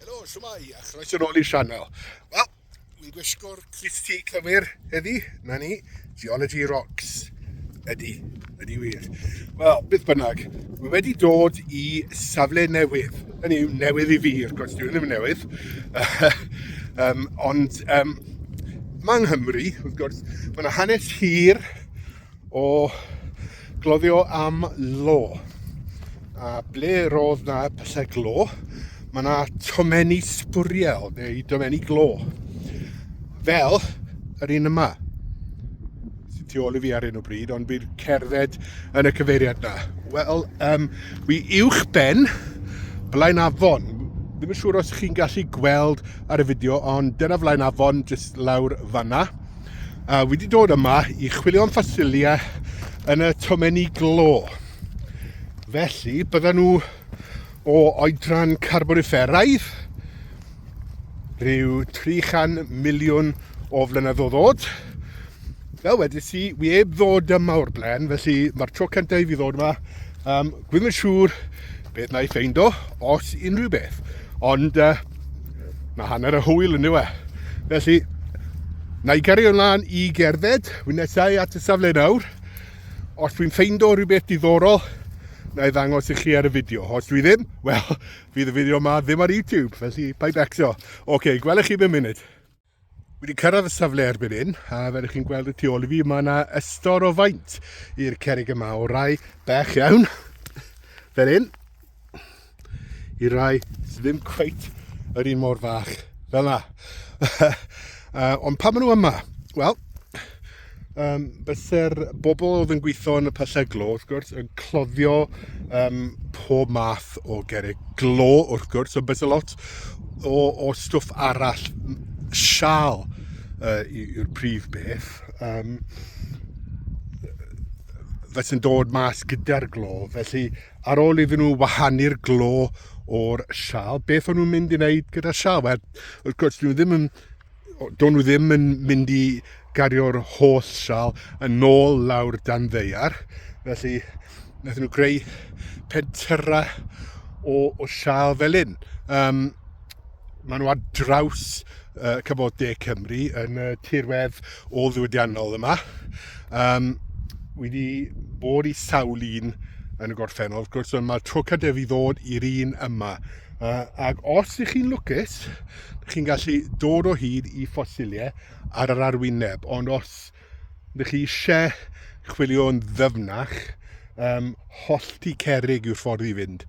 Helo, siwmai, a chroeso nôl i'r sianel. Wel, dwi'n gwisgo'r Christy cywir heddi, na ni, Geology Rocks. Ydy, ydy wir. Wel, beth bynnag, mae wedi dod i safle newydd. Hynny yw newydd i fi, wrth gwrs, dwi'n ddim yn newydd. um, ond um, mae yng Nghymru, wrth gwrs, mae yna hanes hir o gloddio am lo. A ble roedd na pyllau glo, mae na tomenni sbwriel neu domenni glo. Fel yr un yma sy'n tu ôl i fi ar un o bryd, ond fi'n cerdded yn y cyfeiriad na. Wel, um, wi uwch ben blaen afon. Ddim yn siŵr os chi'n gallu gweld ar y fideo, ond dyna flaen afon, jyst lawr fanna. a wedi dod yma i chwilio am ffosilia yn y tomenni glo. Felly, bydden nhw o oedran carbonifferaidd, rhyw 300 miliwn o flynyddoedd oed. Fel wedi si, wi eb ddod yma o'r blaen, felly mae'r tro cyntaf i fi ddod yma. Um, Gwyn yn siŵr beth na i ffeindo, os unrhyw beth. Ond uh, mae hanner y hwyl yn yw e. Felly, na i gario ymlaen i gerdded, wy'n nesau at y safle nawr. Os dwi'n ffeindo rhywbeth diddorol, na i ddangos i chi ar y fideo. Os dwi ddim, wel, fydd y fideo yma ddim ar YouTube, felly pa'i becso. Oce, okay, gwelwch chi ddim munud. Wedi cyrraedd y safle erbyn hyn, a fel ych chi'n gweld y tu ôl i fi, mae yna ystod o faint i'r cerig yma, o rai bech iawn, fel hyn, i rai sydd ddim cweit yr un mor fach, fel yna. uh, ond pa maen nhw yma? Wel, um, byse'r bobl oedd yn gweithio yn y pyllau glo, wrth gwrs, yn cloddio um, pob math o gerrig glo, wrth gwrs, ond byse lot o, o stwff arall, sial uh, yw'r prif beth, um, fe sy'n dod mas gyda'r glo. Felly, ar ôl iddyn nhw wahanu'r glo o'r sial, beth o'n nhw'n mynd i wneud gyda'r sial? Wel, wrth gwrs, dyn nhw ddim yn do'n nhw ddim yn mynd i gario'r holl sal yn ôl lawr dan ddeiar. Felly, wnaethon nhw greu pentyra o, o sal fel un. Um, maen nhw ar draws uh, cyfod de Cymru yn y tirwedd o ddiwydiannol yma. Um, wedi bod i sawl un yn y gorffennol, wrth gwrs, ond mae'r tro cadef i ddod i'r un yma. Uh, ac os ych chi'n lwcus, Yep, chi'n gallu dod o hyd i ffosiliau ar yr arwyneb, ond os ydych chi eisiau chwilio'n ddyfnach, um, hollti cerig yw'r ffordd i fynd.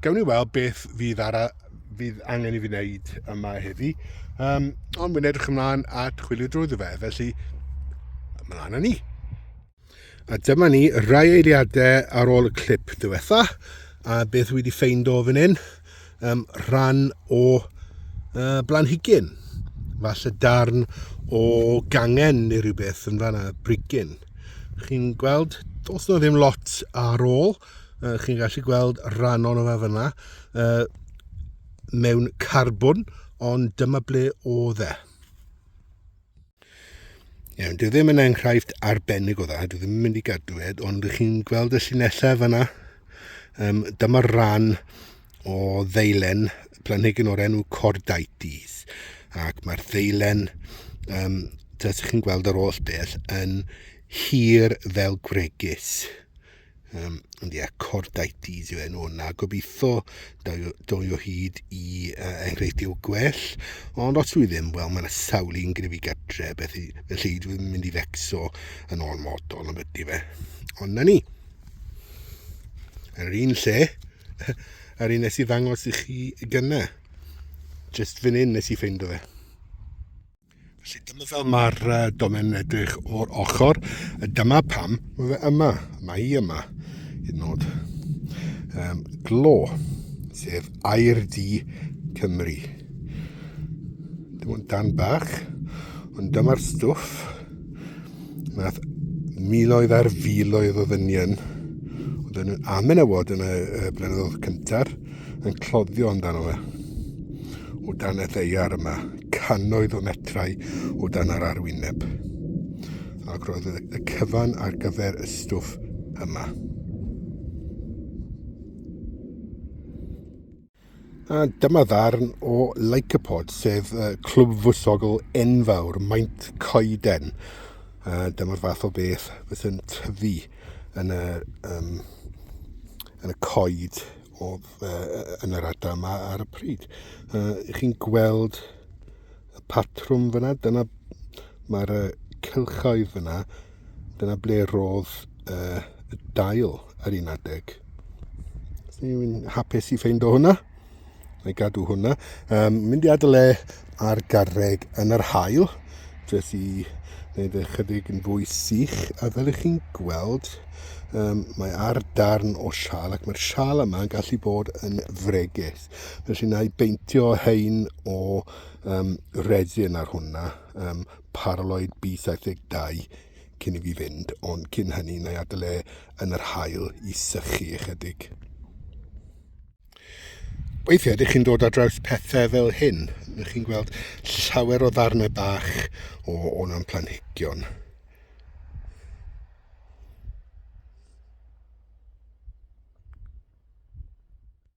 Gawn ni weld beth fydd, ara, fydd angen i fi wneud yma heddi, um, ond wy'n edrych ymlaen at chwilio drwy fe, felly, ymlaen â ni. A dyma ni, rai eiliadau ar ôl y clip diwetha, a beth wedi ffeind o fan hyn, um, rhan o uh, blanhigyn, falle darn o gangen neu rhywbeth yn fanna, brigyn. Chi'n gweld, os na ddim lot ar ôl, uh, chi'n gallu gweld rhan o'n yma fanna, uh, mewn carbwn, ond dyma ble o dde. Iawn, dwi ddim yn enghraifft arbennig o dda, dwi ddim yn mynd i gadw ed, ond ych chi'n gweld y llinellau fyna? Um, Dyma'r rhan o ddeilen planhigyn o'r enw Cordaites, ac mae'r ddeilen, um, dydych chi'n gweld yr oll beth, yn hir fel gwregys. Um, ond ie, cordaitis yw enw hwnna. Gobeithio doi o hyd i uh, enghreifftiau gwell. Ond os dwi ddim, wel, mae'n sawl i'n gryfu gatre, beth i, felly dwi'n mynd i fecso yn ôl modol am ydy fe. Ond na ni. Yr un lle, yr un nes i ddangos i chi gyna. Just fan hyn nes i ffeindo fe. Felly dyma fel mae'r uh, domen yn edrych o'r ochr. Dyma pam mae fe yma. Mae hi yma. Hyd nod. Um, glo, sef air di Cymru. Dim ond dan bach, ond dyma'r stwff. Mae miloedd ar filoedd o ddynion oedd yn amenywod yn y, y blynyddoedd cyntaf yn cloddio amdano fe. O dan y ddeiar yma, cannoedd o metrau o dan yr arwyneb. Ac roedd y cyfan ar gyfer y stwff yma. A dyma ddarn o Lycopod, sef uh, clwb fwysogl enfawr, maint coeden. Uh, dyma'r fath o beth fysyn tyfu yn y, um, yn y coed o, uh, yn yr adar yma ar y pryd. Uh, chi'n gweld y patrwm fyna, dyna mae'r uh, cylchoedd fyna, Dyna ble roedd uh, y dail ar un adeg. Dwi'n hapus i ffeind o hwnna. Na i gadw hwnna. Um, mynd i adael e ar garreg yn yr hael. Dres i wneud ychydig yn fwy sych. A fel ych chi'n gweld, um, mae ar darn o sial ac mae'r sial yma yn gallu bod yn fregus. Felly na i beintio hein o um, resin ar hwnna. Um, paraloid bu 72 cyn i fi fynd, ond cyn hynny na i adael e yn yr haul i sychu ychydig. Weithiau ydych chi'n dod ar draws pethau fel hyn, ydych chi'n gweld llawer o ddarnau bach o o'n planhigion.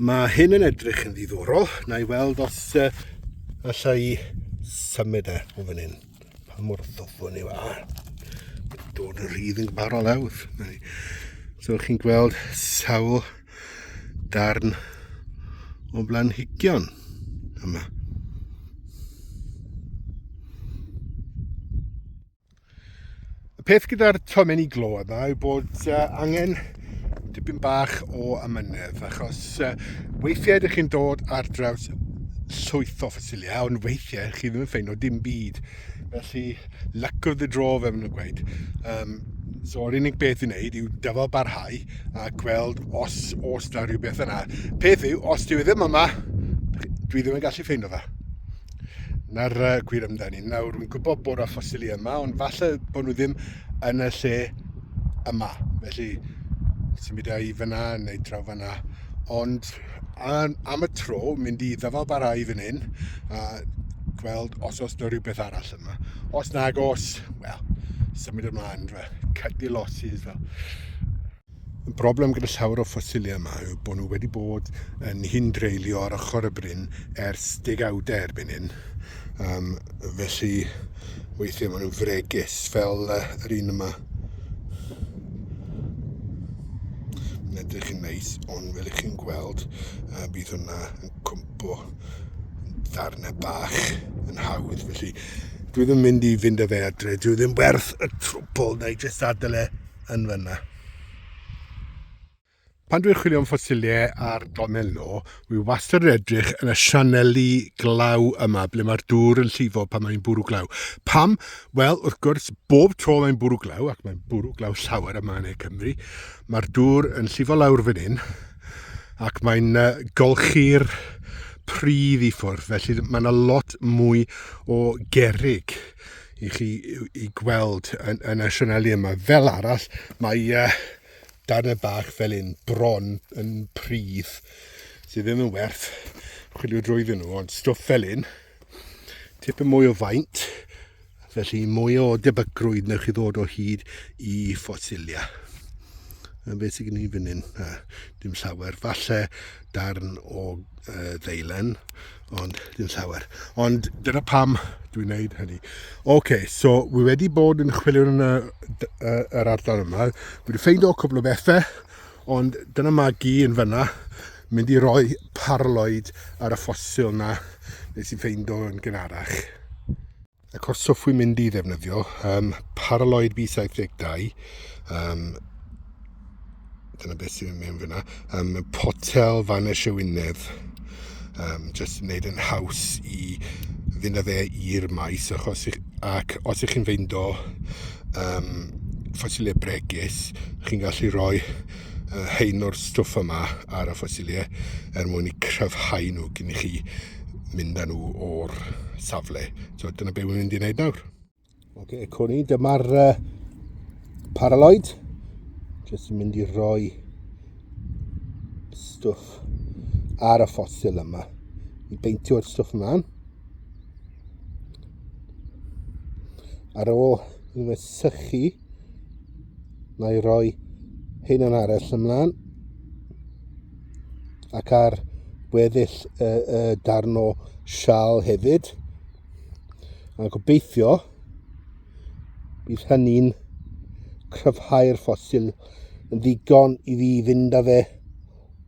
Mae hyn yn edrych yn ddiddorol. Na i weld os uh, alla i symud e o fan hyn. Pa mor ddofwn yw a. Dod yn rhydd yn gyfarol lawr. So chi'n gweld sawl darn o blanhigion yma. Y peth gyda'r tomenni glo yma yw bod uh, angen dipyn bach o amynedd, achos uh, weithiau ydych chi'n dod ar draws llwyth o ffosiliau, ond weithiau chi ddim yn ffeindio dim byd. Felly, luck of the draw, fe maen nhw'n gweud. Um, so, yr unig beth i wneud yw dyfal barhau a gweld os os da rhywbeth yna. Peth yw, os dwi e ddim yma, dwi ddim yn gallu ffeindio fe. Na'r uh, gwir amdani. Nawr, rwy'n gwybod bod y ffosili yma, ond falle bod nhw ddim yn y lle yma. Felly, symud i fyna neu draw fyna. Ond am, am y tro, mynd i ddyfal barau fan hyn a gweld os oes yna rhywbeth arall yma. Os nag os, wel, symud ymlaen, fel cut your losses. Fel. Y broblem gyda llawer o ffosilia yma yw bod nhw wedi bod yn hyn dreulio ar ochr y bryn ers degawdau erbyn hyn. Um, felly, weithiau maen nhw'n fregus, fel uh, yr un yma. Mae'n edrych yn neis, ond fel ych chi'n gweld, uh, bydd hwnna yn cwmpo ddarnau bach yn hawdd. Felly, dwi ddim mynd i fynd â fe adre, dwi ddim werth y trwpol, neu jyst adael e yn fyna. Pan dwi'n chwilio am ffosiliau ar Donel No, wi wastad yn edrych yn y sianeli glaw yma, ble mae'r dŵr yn llifo pan mae'n bwrw glaw. Pam? Wel, wrth gwrs, bob tro mae'n bwrw glaw, ac mae'n bwrw glaw llawer yma yn ei Cymru, mae'r dŵr yn llifo lawr fan hyn, ac mae'n golchi'r pridd i ffwrdd, felly mae yna lot mwy o gerig i chi i gweld yn, yn y sianeli yma. Fel arall, mae uh, darnau bach fel un bron yn pridd sydd ddim yn werth chwilio drwyddyn nhw, ond stwff fel un, tipyn mwy o faint, felly mwy o debygrwydd newch chi ddod o hyd i ffosilia. A beth sydd gen i fan hyn? A, dim llawer. Falle darn o uh, ddeilen, ond dim llawer. Ond dyna pam dwi'n neud hynny. Oce, okay, so wi wedi bod yn chwilio yn y, y, yr ardal yma. Wi wedi ffeind o cwbl o bethau, ond dyna magi yn fyna mynd i roi parloid ar y ffosil na nes i ffeind o'n gynharach. Y cwrs hoffwn mynd i ddefnyddio, um, Paraloid B72, um, dyna beth sy'n mynd fyna, um, Potel fan y Siwynedd, um, jyst wneud yn haws i fynd â fe i'r maes, achos, ac os ych chi'n feindo um, ffosilau bregus, chi'n gallu rhoi uh, hein o'r stwff yma ar y ffosilau er mwyn i cryfhau nhw gyn chi. mynd â nhw o'r safle. So dyna beth wy'n mynd i wneud nawr. Oce, okay, cwn i, dyma'r uh, paraloid. Jyst yn mynd i roi stwff ar y ffosil yma. I beintio'r stwff ymlaen. Ar ôl yn fy sychu, mae roi hyn yn arall ymlaen. ac ar weddill y, y darn o sial hefyd. A gobeithio bydd hynny'n cryfhau'r ffosil yn ddigon i fi fynd â fe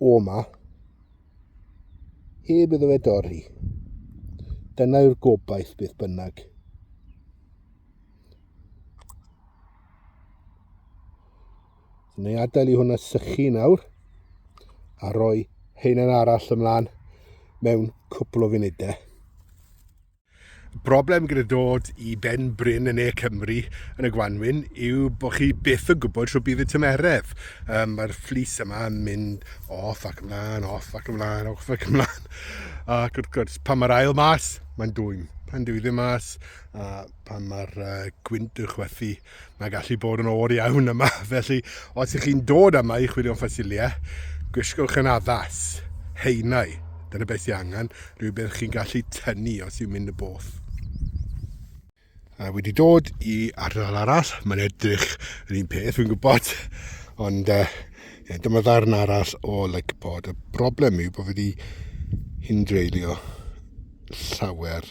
o yma heb iddo fe dorri. Dyna yw'r gobaith beth bynnag. Yn ei adael i hwnna sychu nawr a roi heinen arall ymlaen mewn cwpl o funudau. Broblem gyda dod i ben bryn yn ne Cymru yn y Gwanwyn yw bod chi byth yn gwybod rhywbeth bydd y tymeredd. Um, Mae'r fflus yma yn mynd off ac ymlaen, off ac ymlaen, off ac ymlaen. Ac wrth gwrs, pan mae'r ail mas, mae'n dwy'n pan dwi ddim mas, a pan mae'r uh, gwynt yn chwethu, Mae'n gallu bod yn oer iawn yma, felly os ych chi'n dod yma i chwilio am ffosiliau, gwisgwch yn addas, haenau, dyna beth sy'n angen, rhywbeth chi'n gallu tynnu os yw'n mynd y both. A wedi dod i ardal arall, mae'n edrych yr un peth, fi'n gwybod, ond uh, yeah, dyma ddarn arall o Lycbod. Y broblem yw bod wedi hyn dreulio llawer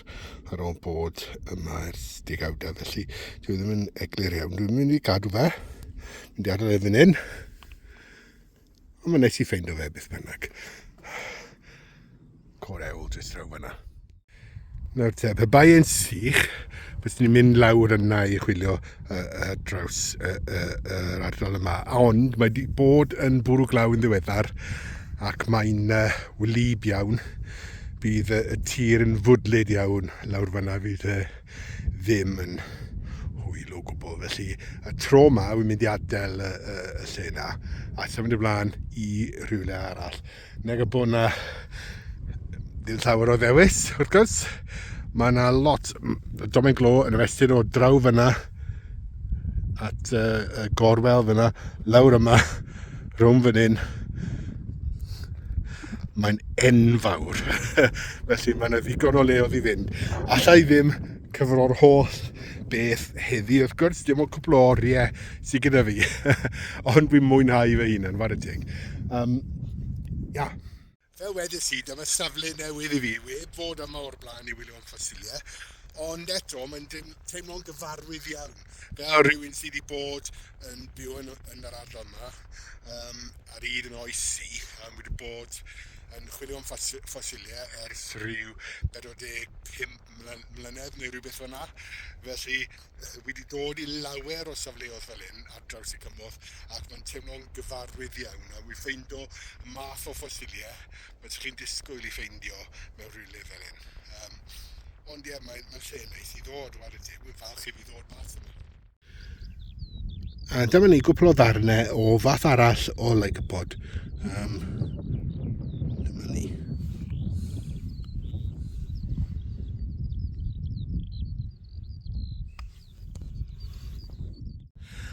ar ôl bod yma ers degawdau, felly dwi e ddim yn eglur iawn. Dwi'n mynd i gadw fe, mynd i adael e fan hyn, ond mae'n neis i ffeind o fe beth bynnag. Core ewl jyst draw fanna. Nawr te, pe bai yn sych, bys ni'n mynd lawr yna i chwilio ar uh, draws uh, uh, yr ardal yma. Ond mae wedi bod yn bwrw glaw yn ddiweddar ac mae'n uh, wlyb iawn. Bydd uh, y tir yn fwdlyd iawn lawr fanna fydd uh, ddim yn hwyl o gwbl. Felly y tro yma wy'n mynd i adael y, y, y lle yna a symud ymlaen i rhywle arall. Nag y bod 'na ddim llawer o ddewis, wrth gwrs. Mae yna lot... m- Domen Glo yn y fesur o draw fyna at y, y gorwel fyna, lawr yma, rhwng fan hyn. Mae'n enfawr. Felly mae yna ddigon o le oedd i fynd. Alla i ddim cyfro'r holl beth heddi. Wrth gwrs, dim ond cwpl o oriau sydd gyda fi, ond fi'n mwynhau fy hunan, fawr y teg. Um, ia. Fel wedys i, dyma safle newydd i fi, web fod yma o'r blaen i wylio am ffosiliau, ond eto mae'n teimlo'n gyfarwydd iawn. Fel rhywun sydd wedi bod yn byw yn, yn yr ardal yma um, ar un yn oes i, um, wedi bod yn chwilio am ffosiliau ers rhyw 45 mlynedd neu rhywbeth fel 'na. Felly, wi 'di dod i lawer o safleodd fel 'yn ar draws y cymorth ac mae'n teimlo'n gyfarwydd iawn a wi ffeindo y math o ffosilie bysech chi'n disgwyl i ffeindio mewn rhywle fel 'yn. Yym, ond ie, mae'n lle neis i ddod, ware teg, wi'n falch i fi ddod mas yma. A dyma ni gwpl o ddarnau o fath arall o lycopod. Um, dyma ni.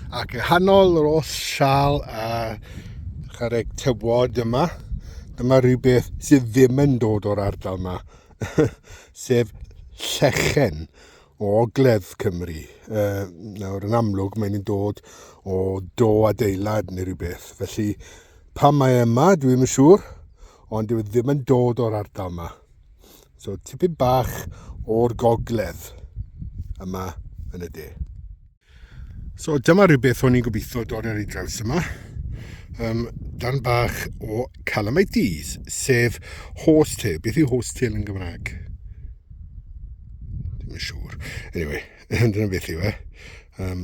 Ac y hanol yr oll sial a chareg tywod yma, dyma rhywbeth sydd ddim yn dod o'r ardal yma, sef llechen o ogledd Cymru. Uh, nawr, yn amlwg, mae'n nhw'n dod o do adeilad neu rhywbeth. Felly, pan mae e yma, dwi ddim yn siŵr, ond dwi e ddim yn dod o'r ardal yma. So, tipyn bach o'r gogledd yma yn y de. So dyma rhywbeth o'n i'n gobeithio dod ar ei draws yma. Um, dan bach o calamites, sef horsetail. Beth yw horsetail yn Gymraeg? Dim yn siŵr. Anyway, dyna beth yw e. Um,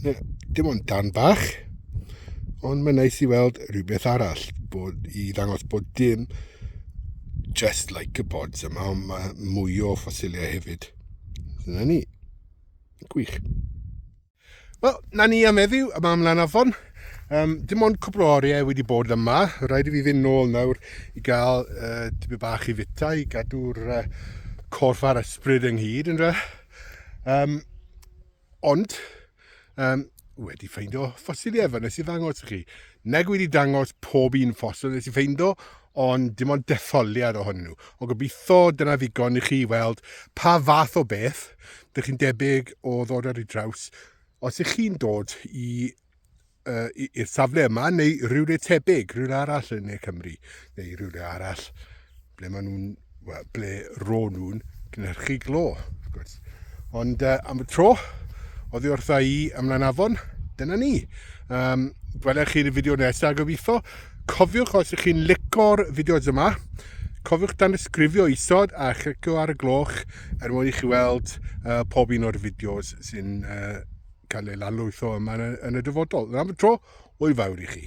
na, dim ond dan bach, ond mae'n neis i weld rhywbeth arall, bod, i ddangos bod dim just like y bods yma, ond mae mwy o ffosiliau hefyd. Dyna ni. Gwych. Wel, na ni am eddiw, yma am Lanafon. Um, dim ond cwpl o oriau wedi bod yma. Rhaid i fi fynd nôl nawr i gael uh, dibyd bach i fita i gadw'r uh, corff a'r ysbryd ynghyd yn dra. Um, ond, um, wedi ffeindio ffosiliau fe nes i ddangos i chi. Nag wedi dangos pob un ffosil nes i ffeindo, ond dim ond detholiad ohonyn nhw. Ond gobeithio dyna ddigon i chi weld pa fath o beth dych chi'n debyg o ddod ar ei draws os ych chi'n dod i uh, i'r safle yma neu rhywle tebyg, rhywle arall yn Ne Cymru neu rhywle arall ble maen nhw'n, wel, ble ro nhw'n cynhyrchu glo, wrth gwrs. Ond uh, am y tro, oddi wrtha i ymlaen afon, dyna ni. Um, Gwelech chi'n y fideo nesaf gobeithio. Cofiwch os ych chi'n licor fideos yma, cofiwch dan ysgrifio isod a chlicio ar y gloch er mwyn i chi weld uh, pob un o'r fideos sy'n uh, cael ei lanlwytho yma yn y, yn y dyfodol. Yn am y tro, o'i fawr i chi.